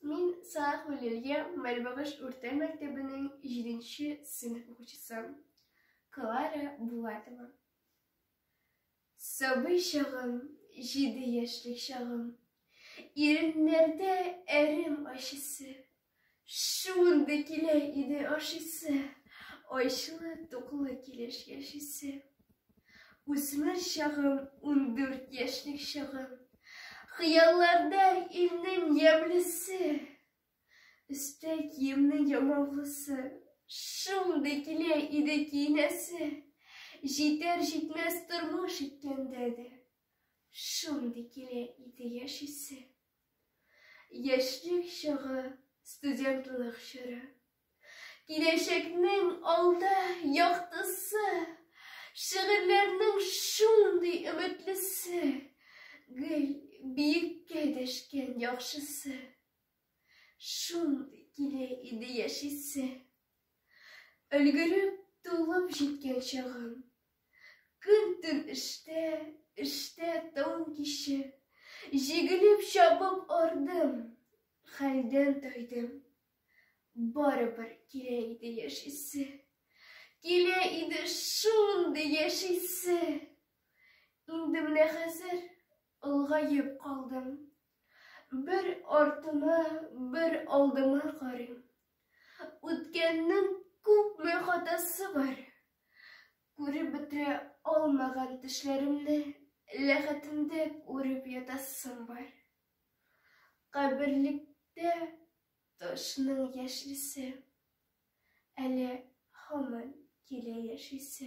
Мин Салах Валерия Мәрбагыш урта мәктәбенең 7 сыйныф укучысы Клара Булатова. Сабый чагым, 7 яшьлек чагым. Иреннәрдә әрем ачысы. Шундый килә иде ашысы. Айчылы, туклы килеш яшисе. Үсмер чагым, ундүрт яшьлек чагым, Хыялларда илнең ямьлесе, Өстә киемнең ямаулысы, Шундый килә иде киенәсе, Җитәр-җитмәс тормыш иткәндә дә, Шундый килә иде яшисе. Яшьлек чагы, студентлык чоры. Киләчәкнең алда яктысы, шигырьләрнең шундый өметлесе, гел биеккә дәшкән яхшысы. Шундый килә иде яшисе. Өлгереп, тулып җиткән чагым. Көн-төн эштә, эштә төн-киче. Җигелеп, чабып ардым, хәлдән тайдым. Барыбер килә иде яшисе. Килә иде шундый яшисе. Инде менә хәзер олыгаеп калдым. Бер артыма, бер алдыма карыйм. Үткәннең күпме хатасы бар. Күреп бетерә алмаган төшләремне ләхәтендә күреп ятасым бар. Каберлектә ташның яшелсе, әле һаман килә яшисе.